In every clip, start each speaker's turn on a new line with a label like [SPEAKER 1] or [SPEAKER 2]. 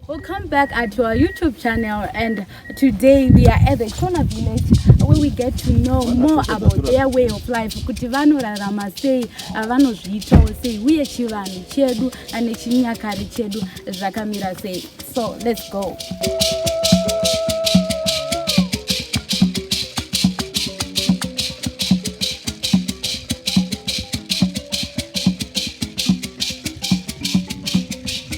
[SPEAKER 1] Welcome back at our YouTube channel and today we are at the Shona village where we get to know more about their way of life kuti vanorarama sei vanozviitawo sei uye chivanhu chedu ane chinyakari chedu zvakamira sei so let's go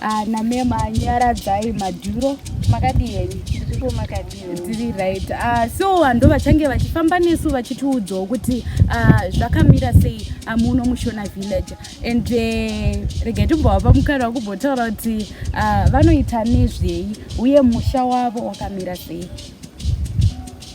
[SPEAKER 1] Ah, name manyaradzai madhuro makadii henyu zviriko makadii tiri right ah, so vanhu vachange vachifamba nesu vachitiudzawo kuti ah, zvakamira sei amuno mushona village and eh, regai timbovapa mukana wakumbotaura kuti ah, vanoita nezvei uye musha wavo wakamira sei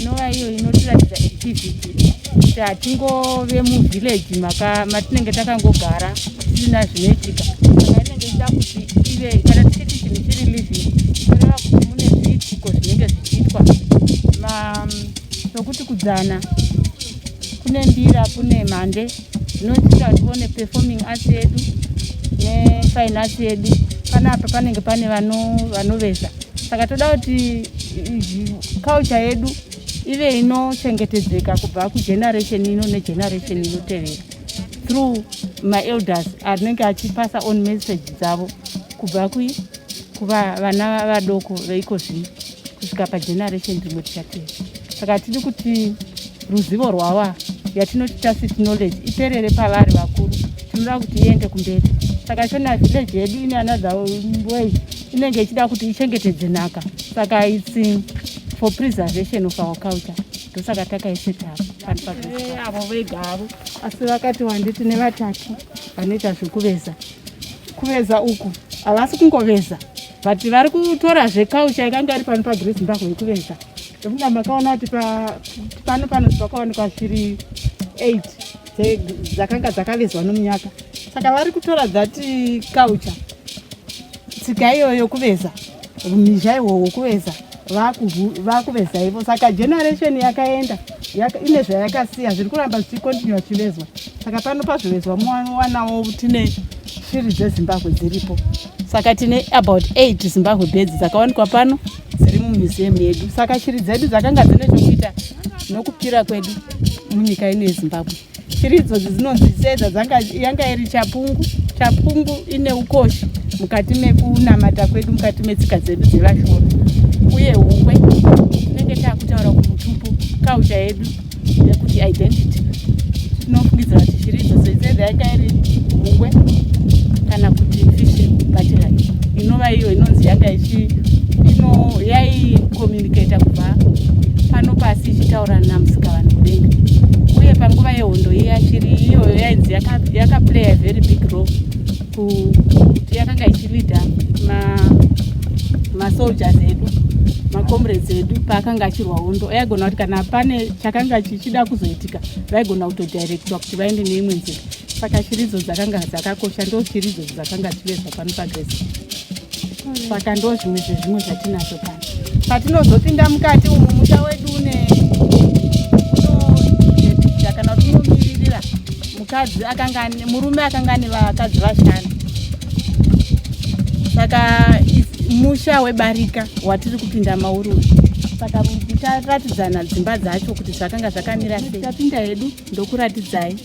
[SPEAKER 2] inova iyo inotiratidza activity kuti hatingove muvillage matinenge takangogara tisina zvinoitika saka inenge ichida kuti ive kana tichiti chinhu chiri living inoreva kuti mune zviitiko zvinenge zvichiitwa sokuti kudzana kune mbira kune mhande zvinoita kuti tione performing arts yedu nefine arts yedu panapa panenge pane vanoveza saka toda kuti culture yedu ive inochengetedzeka kubva kugeneration ino negeneration inotevera through maelders anenge achipasa on message dzavo kubva kui kuva vana vadoko veiko zvino kusvika pageneration rimwe tichatei saka tidi kuti ruzivo rwava yatinoti tacit knowledge iperere pavari vakuru tinoda kuti iende kumberi saka shona village yedu ine another way inenge ichida kuti ichengetedze nhaka saka its for preservation of our culture ndosaka takaisetapa avo vegavo asi vakati wanditi nevatatu vanoita zvekuveza kuveza uku havasi kungoveza but vari kutora zvekaucha yakanga iri pano pagre zimbabwe yekuveza ekunda makaona kuti pano pano pakawanikwa shiri 8 dzakanga dzakavezwa nomunyaka saka vari kutora dzati kaucha tsika iyoyo kuveza mizha ihwohwo kuveza vakuveza ivo saka generation yakaenda ine zvayakasiya zviri kuramba zvichikontinua zvichivezwa saka pano pazvivezwa muwanawo tine shiri dzezimbabwe dziripo saka tine about eight zimbabwe bedzi dzakawanikwa pano dziri mumuseum yedu saka shiri dzedu dzakanga dzine chokuita nokupira kwedu munyika ino yezimbabwe shiri idzodzi dzinonzi sedza yanga iri chapungu chapungu ine ukoshi mukati mekunamata kwedu mukati metsika dzedu dzevashona uye hukwe tinenge takutaura kumutupo kaucha yedu yekuti identity tinofungidzira kuti shiri idzodzi sedza yanga iri hukwe kana kuti fishi batira inova iyo inonzi yanga ichi ino yai ndikaita kubva pano pasi ichitaura namusika vanhu kudenga uye panguva yehondo iye achiri iyoyo yainzi yakaplaya yaka very big role kuti yakanga ichilida masoldiers ma edu macomrades edu paakanga achirwa hondo aigona kuti kana pane chakanga chichida kuzoitika vaigona kutodirectwa kuti vaende neimwe nzira saka shiridzo dzakanga dzakakosha ndo shiridzo dzakanga dzivezva pano pagresi saka ndo zvimwe zvezvimwe zvatinazvo pano patinozopinda mukati umu musha wedu une unoedita kana kuti unomiririra mukadzi akanga murume akanga ane vakadzi vashanu saka musha webarika watiri kupinda mauri uyu saka titaratidzana dzimba dzacho kuti zvakanga zvakamira sei tapinda hedu ndokuratidzai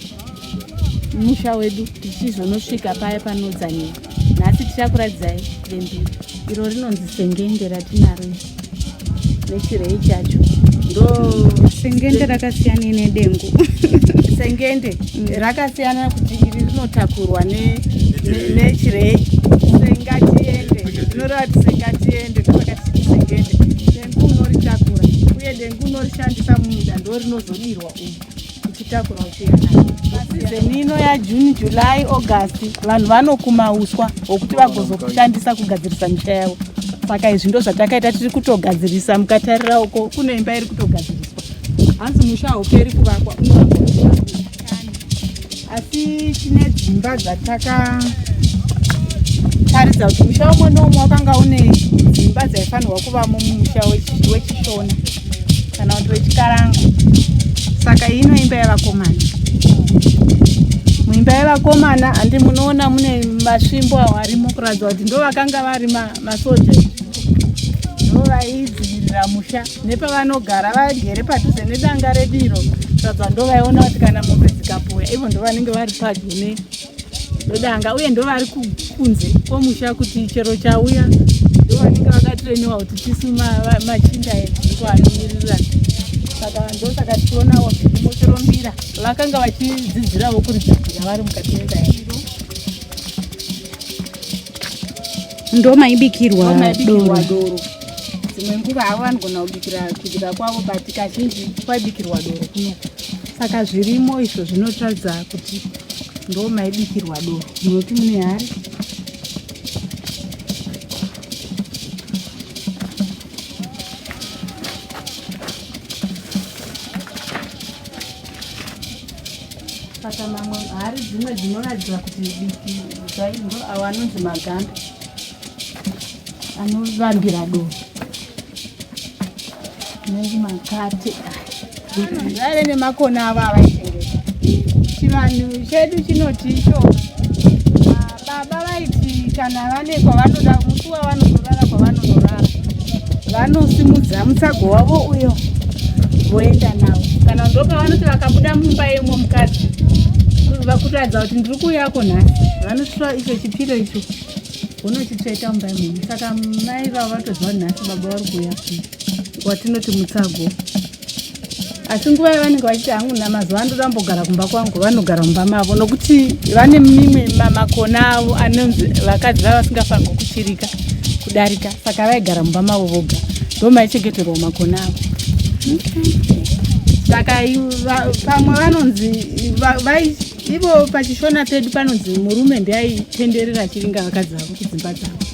[SPEAKER 2] musha wedu tichizonosvika paya panodzaniwa nhasi tichakuradzai vembiri iro rinonzi sengende ratinaro nechirei chacho ndo sengende
[SPEAKER 1] rakasiyana nedengu sengende
[SPEAKER 2] mm. rakasiyana kuti iri rinotakurwa nechirei sengatiende inoreva kuti sengatiende ndopakati sengende dengu unoritakura uye dengu unorishandisa mumunda ndorinozodirwa umu ichitakura uchiya nayo sizeni ino yajune july august vanhu vanokuma uswa hwokuti vagozoshandisa kugadzirisa misha yavo saka izvi ndo zvatakaita tiri kutogadzirisa mukatarira uko kune imba iri kutogadziriswa hanzi musha hauperi kuvakwa unoaa asi tine dzimba dzataka taridza kuti musha umwe noumwe wakanga une dzimba dzaifanirwa kuvamo mumusha wechishona kana kuti wechikaranga saka iyi inoimba yevakomana muimba yevakomana handi munoona mune masvimbo awo arimo kuratidza kuti ndo vakanga vari masoja ndo vaidzivirira musha nepavanogara vagere padhuze nedanga rediro sadza ndovaiona kuti kana mombe dzikapoya ivo ndovanenge vari padyo nedanga uye ndovari kunze kwomusha kuti chero chauya ndovanenge vakatreniwa kuti tisu machinda edziko anomiririra saka ndosaka tichionawo motorombira vakanga vachidzidzirawo kuridzidzira vari mukati mendaya
[SPEAKER 1] ndo maibikirwa doro
[SPEAKER 2] dzimwe nguva havo vanogona kubikira kudira kwavo but kazhinji kwaibikirwa doro kuno saka zvirimo izvo zvinotaridza kuti ndo maibikirwa doro munoti mune hari saka mamwe hari dzimwe dzinoratidza kuti diki zvaindo awo anonzi maganda anovambira doro anonzi makate vaive nemakona avo avaitengesa chivanhu chedu chinoti icho Baba vaiti kana vane kwavanoda musi wavanonorara kwavanonorara vanosimudza mutsago wavo uyo voenda navo kana ndopavanoti vakabuda mumba yemwe mukadzi vakuratidza kuti ndiri kuuyako nhasi vanotora icho chipiro icho vonochitsveta mumba yemunhu saka mai vavo vatoziva nhasi baba vari kuuya watinoti mutsago asi nguva yavanenge vachiti hangu namazuva anoda ambogara kumba kwangu vanogara mumba mavo nokuti vane mimwe makona avo anonzi vakadzi vava vasingafanirwa kuchirika kudarika saka vaigara mumba mavo voga ndo maichengeterwa makona avo saka pamwe vanonzi ivo pachishona pedu panonzi murume ndiyaitenderera chiringa vakadzi vavo kudzimba dzavo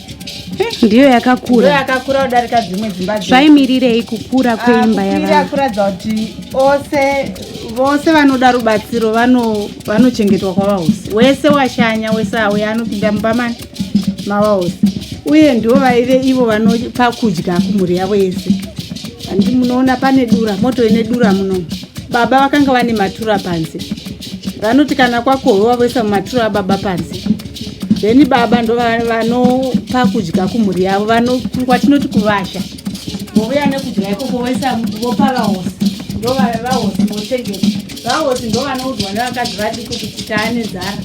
[SPEAKER 1] ndiyo yakakura yakakura kudarika dzimwe
[SPEAKER 2] dzimba zvaimirirei kukura
[SPEAKER 1] ah, kweimba yavakuratidza kuti
[SPEAKER 2] ose vose vanoda rubatsiro vanochengetwa kwavahosi wese washanya wese auya anopinda mumba mani mavahosi uye ndivo vaive ivo vanopa kudya kumhuri yavo yese handi munoona pane dura moto ine dura muno baba vakanga vane matura panze vanoti kana kwakohwewa voisa mumaturo ababa panze then baba ndo vanopa kudya kumhuri yavo kwatinoti kuvasha vouya nekudya ikoko voisa vopa vahosi ndo vahosi vochengeta vahosi ndo vanoudzwa nevakadzi vadiko kuti taane zara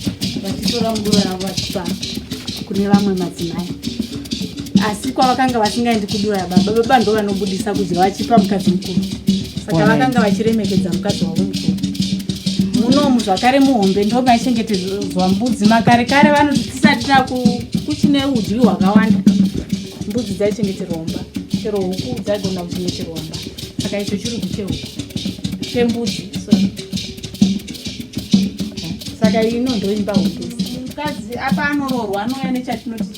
[SPEAKER 2] vachitora mudoro yavo vachipa kune vamwe madzimai asi kwavakanga vasingaendi kudura baba baba ndo vanobudisa kudya vachipa mukadzi mukuru saka vakanga vachiremekedza mukadzi wavo mukuru munomu zvakare muhombe ndo maichengetedzwa mbudzi makare kare vanoti tisati takuchine udyi hwakawanda mbudzi dzaichengeterwa mba chero huku dzaigona kuchengeterwa mba saka icho chiri kuchehuku chembudzi saka ino ndoimba huku mukadzi apa anoroorwa anouya nechatinoti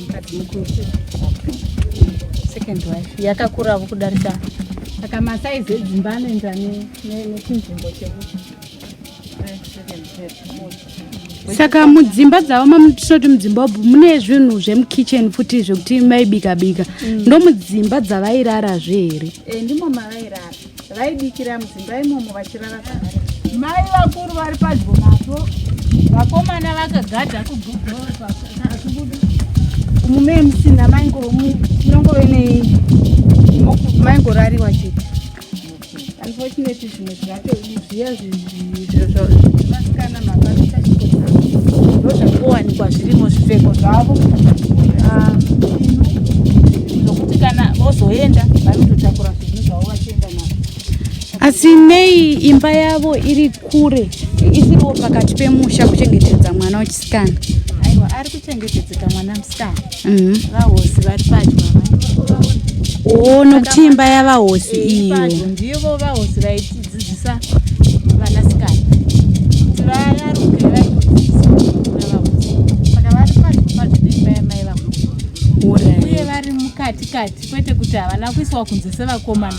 [SPEAKER 3] mukadzi
[SPEAKER 2] mukuru second wife yakakuravo kudarika saka masaizi edzimba anoenda nechinzvimbo chekuti
[SPEAKER 1] saka mudzimba dzavo mamutinoti mudzimba ubu mune zvinhu zvemukitchen futi zvekuti maibika bika mm. ndomudzimba dzavairarazve here eh, ndimo mavairara
[SPEAKER 2] vaibikira mudzimba imomo vachirara kwavari mai vakuru vari padyo napo vakomana vakagadha kugudoakubuda mume musina mainongoe nei maingorariwa chete unfortunately zvimwe zvato zviya zvinhu ndokuwanikwa zvirimo zvipfeko zvavo ah, zvokuti kana vozoenda vanototakura zvinhu zvavo vachienda navo asi
[SPEAKER 1] nei imba yavo iri kure isiriwo pakati pemusha kuchengetedza mwana wechisikana aiwa ari
[SPEAKER 2] kuchengetedzeka mwana musikana Mhm. vahosi vari padyo o
[SPEAKER 1] nokuti imba yavahosi iyo padyo ndivo vahosi
[SPEAKER 2] vaitidzidzisa vanasikana kuti vayaruke vaitodzidzisa navahosi saka vari padyo padyo neimba yamai vako uye vari mukati kati kwete kuti havana kuiswa kunze sevakomana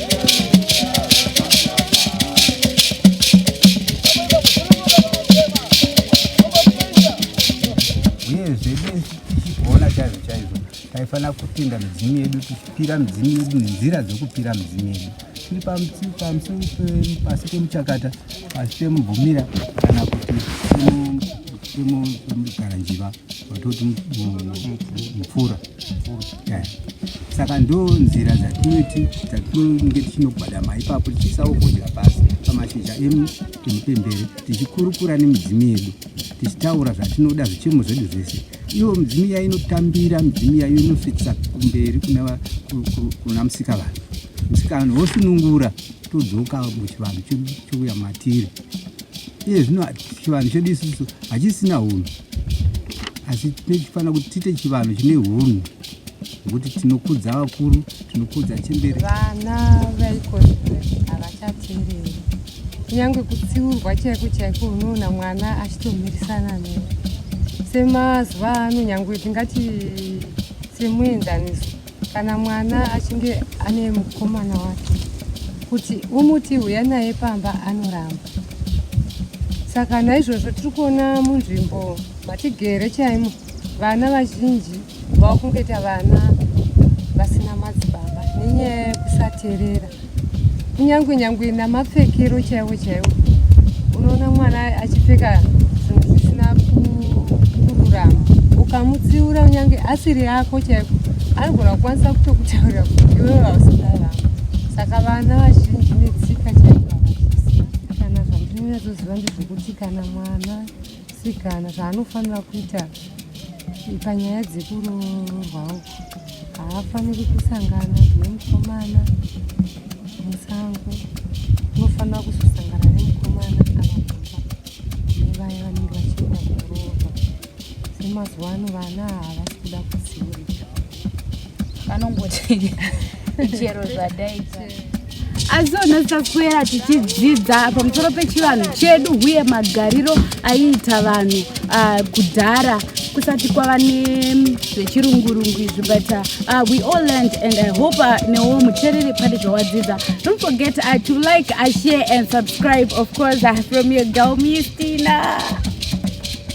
[SPEAKER 4] taifanira kupinda midzimu yedu tichipira midzimu yedu nenzira dzekupira midzimu yedu tiri pamusoro pasi pemuchakata pasi pemubvumira kana kuti pemugaranjiva vatoti mupfura saka ndo nzira dzatinoti dzatinenge tichinogwadama ipapo tichisawo kudya pasi pamashizha emupembere tichikurukura nemidzimu yedu tichitaura zvatinoda zvichemo zvedu zvese ivo midzimu iya inotambira midzimu iya inosvitisa kumberi kuna musika vanhu musika vanhu vosunungura todzoka muchivanhu chouya matiri iye zvino chivanhu chedu isusu hachisina hunhu asi tinofanira kuti tiite chivanhu chine hunhu nokuti tinokudza vakuru tinokudza chembere vana
[SPEAKER 5] vaiko havachateereri kunyange kutsiurwa chaiko chaiko unoona mwana achitomirisana ne semazuva ano nyange tingati semuenzaniso Kana mwana achinge ane mukomana wake kuti umuti huya naye pamba anoramba. Saka naizvozvo tiri kuona munzvimbo matigere chaimo vana vazhinji vakungoita vana vasina madzibaba nenyaya yekusaterera. nyangwe nyangwe namapfekero chaiwo chaiwo unoona mwana achipfeka zvinhu zvisina kururama ukamutsiura kunyange asiri yako chaiko anogona kukwanisa kutokutaurira kuti iwe vausidarama saka vana vazhinji netsika chaiko kana zvandinonyatsoziva ndezvekuti kana mwana sikana zvaanofanira kuita panyaya dzekuroorwa uku haafaniri kusangana nemukomana musango unofanira kuzosangana nemukomana avababa nevaya vanenge vachienda kuroorwa semazuva ano vana havasi kuda kuzivirika
[SPEAKER 2] vanongoti chero
[SPEAKER 1] zvadaita asi ona taswera tichidzidza pamusoro pechivanhu chedu uye magariro aiita vanhu ah, kudhara kusati kwava nezvechirungurungu izvi but ah, ah, we all learned and i hope newo mutereri pane zvawadzidza don't forget uh, to like uh, share and subscribe of course uh, from your girl mistina